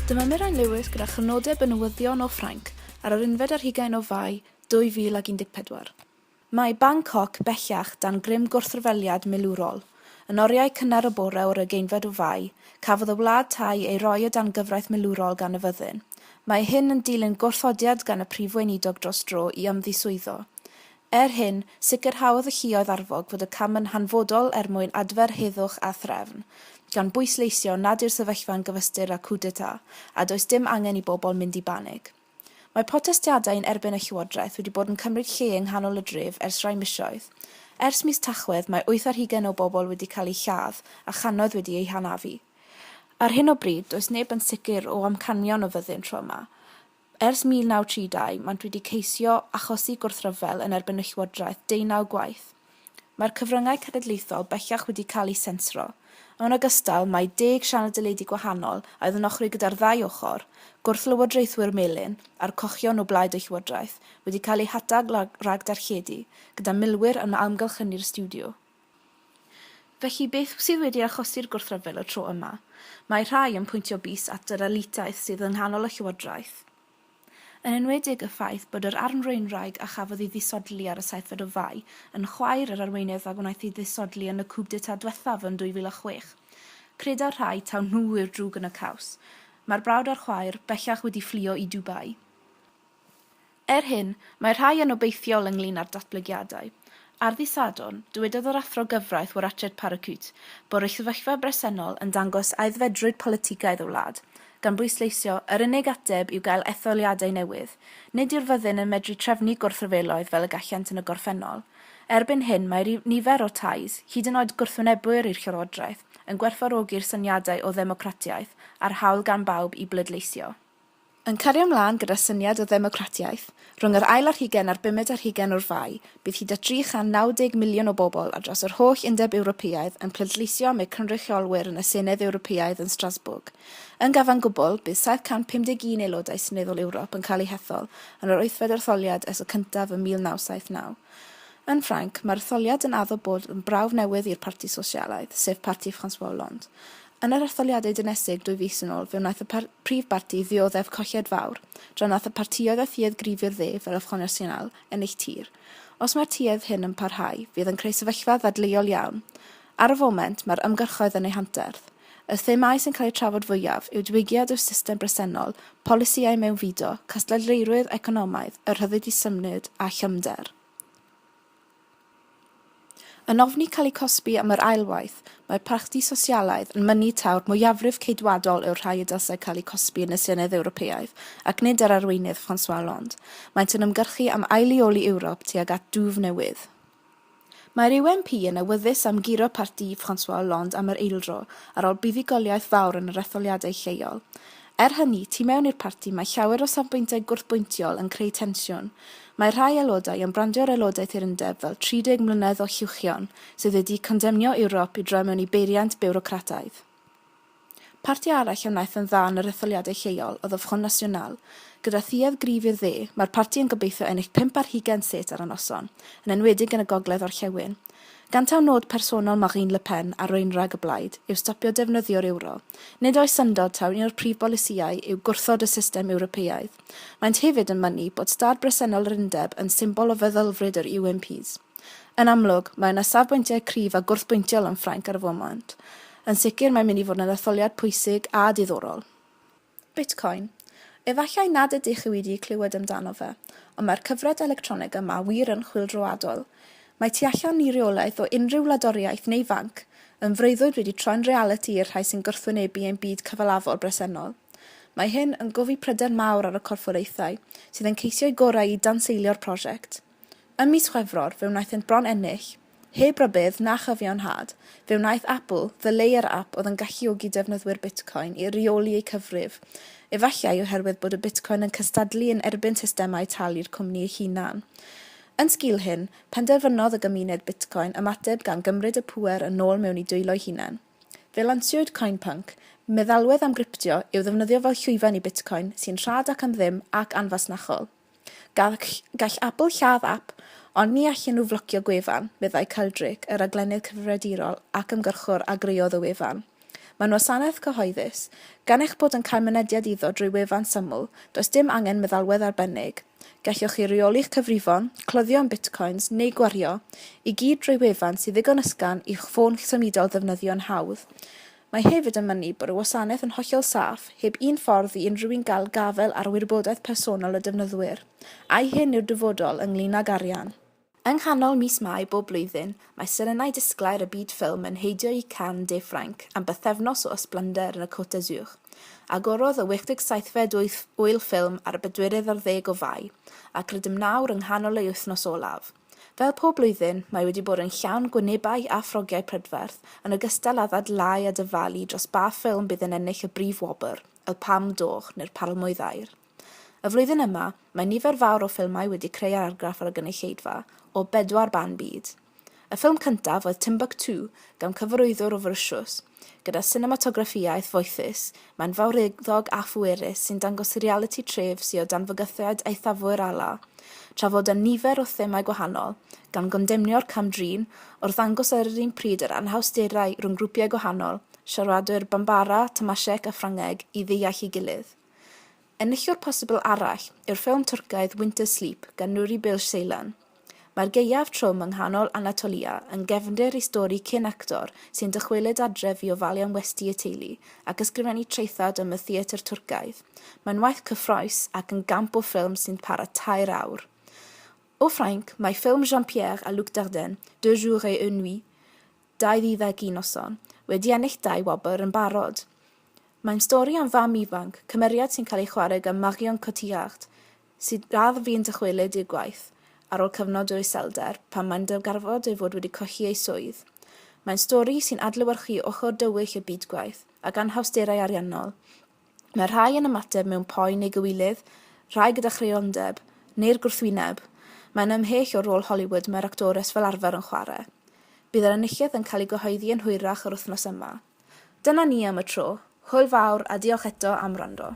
Dyma Mirain Lewis gyda chrynodeb y newyddion o Ffrainc ar yr unfed ar hugain o Fai 2014. Mae Bangkok bellach dan grym gwrthryfeliad milwrol. Yn oriau cynnar y bore o'r ugeinfed o Fai, cafodd y wlad Thai ei roi o dan gyfraith milwrol gan y fyddin. Mae hyn yn dilyn gwrthodiad gan y Prif Weinidog dros dro i ymddiswyddo. Er hyn, sicrhaodd y lluoedd arfog fod y cam yn hanfodol er mwyn adfer heddwch a threfn, gan bwysleisio nad yw'r sefyllfa'n gyfystyr â coup d'etat a does dim angen i bobl mynd i banig. Mae protestiadau yn erbyn y llywodraeth wedi bod yn cymryd lle yng nghanol y dref ers rhai misoedd. Ers mis Tachwedd, mae wyth ar hugain o bobl wedi cael eu lladd a channoedd wedi eu hanafu. Ar hyn o bryd, does neb yn sicr o amcanion y fyddin tro yma. Ers 1932, maent wedi ceisio achosi gwrthryfel yn erbyn y llywodraeth deunaw gwaith. Mae'r cyfryngau cenedlaethol bellach wedi cael eu sensro. Yn ogystal, mae deg sianel deledu gwahanol a oedd yn ochri gyda'r ddau ochr, gwrthlywodraethwyr melyn a'r cochion o blaid y llywodraeth, wedi cael eu hatal rhag darlledu, gyda milwyr yn amgylchynu'r stiwdio. Felly, beth sydd wedi achosi'r gwrthryfel y tro yma? Mae rhai yn pwyntio bys at yr elitaidd sydd yng nghanol y llywodraeth. yn enwedig y ffaith bod yr armfraenwraig a chafodd ei ddisodli ar y saethfed o Fai yn chwaer yr arweinydd a gwnaeth ei ddisodli yn y coup d'état dwethaf yn 2006. Credai'r rhai taw nhw yw'r drwg yn y caws. Mae'r brawd a'r chwaer bellach wedi fflio i Dubai. Er hyn, mae rhai yn obeithiol ynglŷn â'r datblygiadau. Ar ddydd Sadwrn, dywedodd yr Athro Gyfraith Warachet Parakute bod y sefyllfa bresennol yn dangos aeddfedrwydd politigaidd y wlad, gan bwysleisio, Yr unig ateb yw gael etholiadau newydd. Nid yw'r fyddin yn medru trefnu gwrthryfeloedd fel y gallant yn y gorffennol. Erbyn hyn, mae rhyw nifer o Thais, hyd yn oed gwrthwynebwyr i'r Llywodraeth, yn gwerthfawrogi'r syniadau o ddemocratiaeth a'r hawl gan bawb i bleidleisio. Yn cario mlaen gyda syniad o ddemocratiaeth, rhwng yr ail ar hugen a'r bumed ar hugen o'r Fai, bydd hyd at 390 miliwn o bobl ar draws yr holl Undeb Ewropeaidd yn pleidleisio am eu cynrychiolwyr yn y Senedd Ewropeaidd yn Strasbourg. Yn gyfan gwbl, bydd 751 aelodau seneddol Ewrop yn cael eu hethol yn yr wythfed etholiad ers y cyntaf ym 1979. Yn Ffrainc, mae'r etholiad yn addo bod yn brawf newydd i'r Parti Sosialaidd, sef parti François Hollande. Yn yr etholiadau dynesig dwy fis yn ôl, fe wnaeth y Prif barti ddioddef colled fawr, dra nath y partïoedd a thuedd grifi'r dde fel y Front National, ennill tir. Os mae'r tuedd hyn yn parhau, fydd yn creu sefyllfa ddadleuol iawn. Ar y foment, mae'r ymgyrchoedd yn eu hanterth. Y themâu sy'n cael eu trafod fwyaf yw diwygiad i'r system bresennol, polisïau mewnfudo, cystadleurwydd economaidd, y rhyddid i symud, a chefnder. Yn ofni cael eu cosbi am yr ail waith, mae'r Parti Sosialaidd yn mynnu taw'r mwyafrif Ceidwadol yw'r rhai y dylsai cael eu cosbi yn y Senedd Ewropeaidd, ac nid yr Arweinydd François Hollande. Maent yn ymgyrchu am ail-leoli Ewrop tuag at dwf newydd. Mae'r UMP yn awyddus am guro parti François Hollande am yr eildro, ar ôl buddugoliaeth fawr yn yr etholiadau lleol. Er hynny, tu mewn i'r parti mae llawer o safbwyntiau gwrthbwyntiol yn creu tensiwn. Mae rhai aelodau yn brandio'r aelodaeth i'r undeb fel 30 mlynedd o huwchion sydd wedi condemnio Ewrop i droi mewn i beiriant biwrocrataidd. Parti arall a wnaeth yn dda yn yr etholiadau lleol oedd y Front National. Gyda thuedd gryf i'r dde, mae'r parti yn gobeithio ennill pump ar hugain set ar y noson, yn enwedig yn y gogledd-orllewin. Gan taw nod personol Marine Le Pen a rwynrag y blaid yw stopio defnyddio'r ewro, nid oes syndod taw un o'r prif bolisïau yw gwrthod y system Ewropeaidd. Maent hefyd yn mynnu bod stad bresennol yr Undeb yn symbol o feddylfryd yr UMPs. Yn amlwg, mae yna safbwyntiau cryf a gwrthbwyntiol yn Ffrainc ar y foment. Yn sicr, mae'n mynd i fod yn etholiad pwysig a diddorol. Bitcoin. Efallai nad ydych chi wedi clywed amdano fe, ond mae'r cyfred electronig yma wir yn chwyldroadol. Mae tu allan i reolaeth o unrhyw wladwriaeth neu fanc, yn freuddwyd wedi troi'n realiti i'r rhai sy'n gwrthwynebu ein byd cyfalafol bresennol. Mae hyn yn gofi pryder mawr ar y corfforaethau sydd yn ceisio'u gorau i danseilio'r prosiect. Ym mis Chwefror fe wnaethent bron ennill. Heb rybudd na chyfiawnhad, fe wnaeth Apple ddyleuo'r ap oedd yn galluogi defnyddwyr Bitcoin i reoli eu cyfrif, efallai oherwydd bod y Bitcoin yn cystadlu yn erbyn systemau talu'r cwmni ei hunan. Yn sgil hyn, penderfynodd y gymuned Bitcoin ymateb gan gymryd y pŵer yn ôl mewn i dwylo'i hunain. Fe lansiwyd CoinPunk, meddalwedd am griptio i'w ddefnyddio fel llwyfan i Bitcoin sy'n rhad ac am ddim ac anfasnachol. Gall, gall Apple lladd ap, ond ni allen nhw flocio gwefan, meddai Kyle Drake, y raglennydd cyfrifiadurol ac ymgyrchwr a greodd y wefan. Mae'n wasanaeth cyhoeddus. Gan eich bod yn cael mynediad iddo drwy wefan syml, does dim angen meddalwedd arbennig. Gallwch chi reoli'ch cyfrifon, cloddio yn bitcoins neu gwario i gyd drwy wefan sy'n ddigon ysgafn i'ch ffôn symudol ddefnyddio'n hawdd. Mae hefyd yn mynnu bod y wasanaeth yn hollol saff, heb un ffordd i unrhyw un gael gafael ar wybodaeth personol y defnyddwyr, a'i hyn yw'r dyfodol ynglŷn ag arian. Yng nghanol mis Mai bob blwyddyn, mae serenau disglair y byd ffilm yn heidio i Cannes de Ffrainc am bythefnos o ysblennder yn y Côte d'Azur. Agorodd y 87fed Ŵyl Ffilm ar y bedwerydd ar ddeg o Fai, ac rydym nawr yng nghanol ei wythnos olaf. Fel pob blwyddyn, mae wedi bod yn llawn gwynebau a ffrogiau prydferth, yn ogystal â ddadlau a dyfalu dros ba ffilm bydd yn ennill y brif wobr, y Palm d'Or neu'r Palmwydd Aur. Y flwyddyn yma, mae nifer fawr o ffilmau wedi creu argraff ar y gynulleidfa, o bedwar ban byd. Y ffilm cyntaf oedd Timbuktu, gan cyfarwyddwr o Forisiws. Gyda sinematograffiaeth foethus, mae'n fawreddog a phwerus sy'n dangos realiti tref sy o dan fygythiad eithafwyr Allah, tra fod â nifer o themâu gwahanol, gan gondemnio'r cam-drin o'r ddangos ar yr un pryd yr anhawsterau rhwng grwpiau gwahanol, siaradwyr Bambara, Tamashek a Ffrangeg, i ddeall ei gilydd. Enillwr posibl arall yw'r ffilm Twrcaidd Winter Sleep gan Nuri Bilge Ceylan. Mae'r gaeaf trwm yng nghanol Anatolia yn gefndir i stori cyn actor sy'n dychwelyd adref i ofalu am westy y teulu ac ysgrifennu traethawd am y theatr Twrcaidd. Mae'n waith cyffrous ac yn gamp o ffilm sy'n para tair awr. O Ffrainc, mae ffilm Jean-Pierre a Luc Dardenne, Deux jours et une nuit, 21 noson, wedi ennill dau wobr yn barod. Mae'n stori am fam ifanc, cymeriad sy'n cael ei chwarae gan Marion Cotillard, sydd radd fu'n dychwelyd i'r gwaith ar ôl cyfnod o iselder pan mae'n darganfod ei fod wedi colli ei swydd. Mae'n stori sy'n adlewyrchu ochr dywyll y byd gwaith ac anhawsterau ariannol, Mae rhai yn ymateb mewn poen neu gywilydd, rhai gyda chreiondeb, neu'r gwrthwyneb. Mae'n ymhell o'r rôl Hollywood mae'r actores fel arfer yn chwarae. Bydd yr enillydd yn cael ei gyhoeddi yn hwyrach yr wythnos yma. Dyna ni am y tro. Hwyl fawr a diolch eto am wrando.